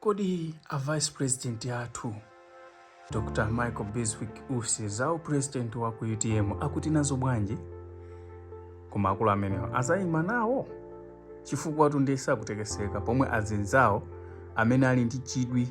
Kodi a vice president athu Dr Michael Biswick Usi za u president wa ku utm akuti nazo bwanji? Koma akulu amenewa azayima nawo chifukwatu nde sakutekeseka pomwe azinzawo amene ali ndi chidwi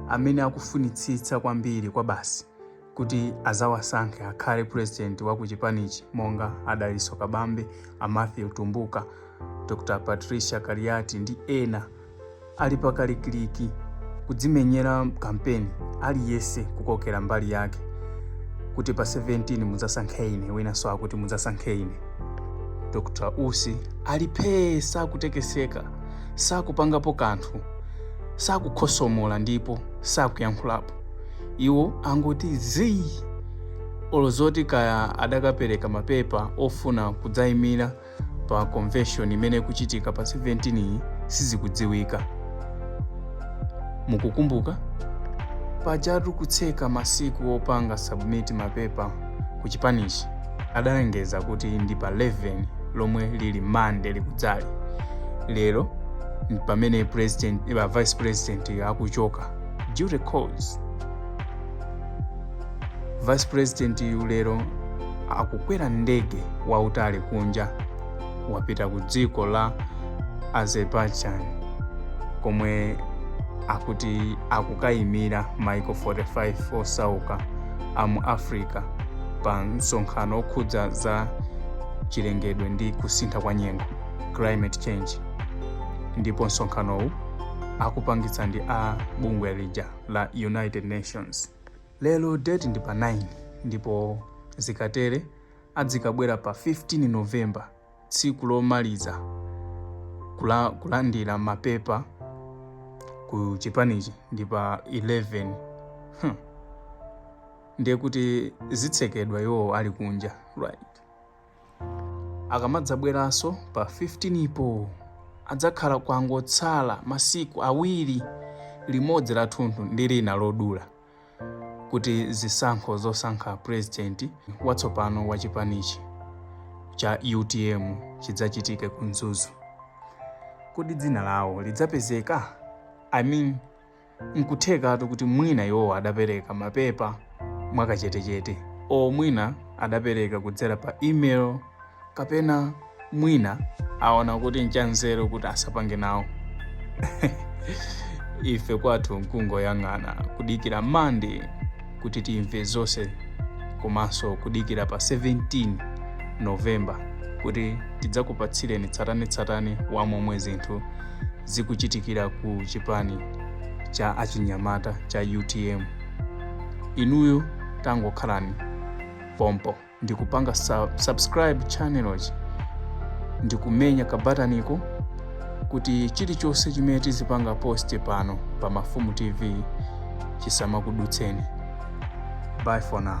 amene akufunitsitsa kwambiri kwa basi kuti azawasankhe akhale president wa ku chipanichi monga a dalitso kabambe a matthews mtumbuka dr patricia kaliati ndi ena ali pakalikiliki kudzimenyera kampeni aliyese kukokera mbali yake kuti pa 17 mudzasankhe ine winanso akuti mudzasankhe ine dr usi ali phee sakutekeseka sakupangapo kanthu sakukhosomola ndipo sakuyankhulapo iwo angoti zii olo zoti kaya adakapereka mapepa ofuna kudzaimira pa convention imene ikuchitika pa 17 iyi sizikudziwika mukukumbuka pajatu kutseka masiku opanga submit mapepa ku chipanichi adalengeza kuti ndi pa 11 lomwe lili mande likudzali lero pamene vice president akuchoka duty calls vice president-yu lero akukwera ndege wautali kunja wapita ku dziko la azerbaijan komwe akuti akukayimira maiko 45 osauka a mu africa pa msonkhano okhudza za chilengedwe ndi kusintha kwa nyengo climate change ndipo msonkhanowu akupangitsa ndi a bungwe lija la united nations lero date ndi pa 9 ndipo zikatere adzikabwera pa 15 november tsiku lomaliza kulandira mapepa ku chipanichi ndi pa 11 hmm. ndiye kuti zitsekedwa iwowo ali kunja right akamadzabweranso pa 15po adzakhala kwangotsala masiku awiri limodzi lathunthu ndi lina lodula kuti zisankho zosankha purezidenti watsopano wa chipanichi cha utm chidzachitike ku mzuzu kodi dzina lawo lidzapezeka i mean N'kuthekatu kuti mwina iwowa adapereka mapepa mwakachetechete or mwina adapereka kudzera pa email kapena mwina aona kuti nchanzeru kuti asapange nawo ife kwathu nkungoyang'ana kudikira mande kuti timve zonse komanso kudikira pa 17 novemba kuti tidzakupatsireni tsatanetsatane wa momwe zinthu zikuchitikira ku chipani cha achinyamata cha utm inuyo tangokhalani pompo ndi kupanga subscribe channelochi ndi kumenya kabataniko kuti chilichonse chimene tizipanga post pano pa Mafumu TV chisamakudutseni. Bye for now.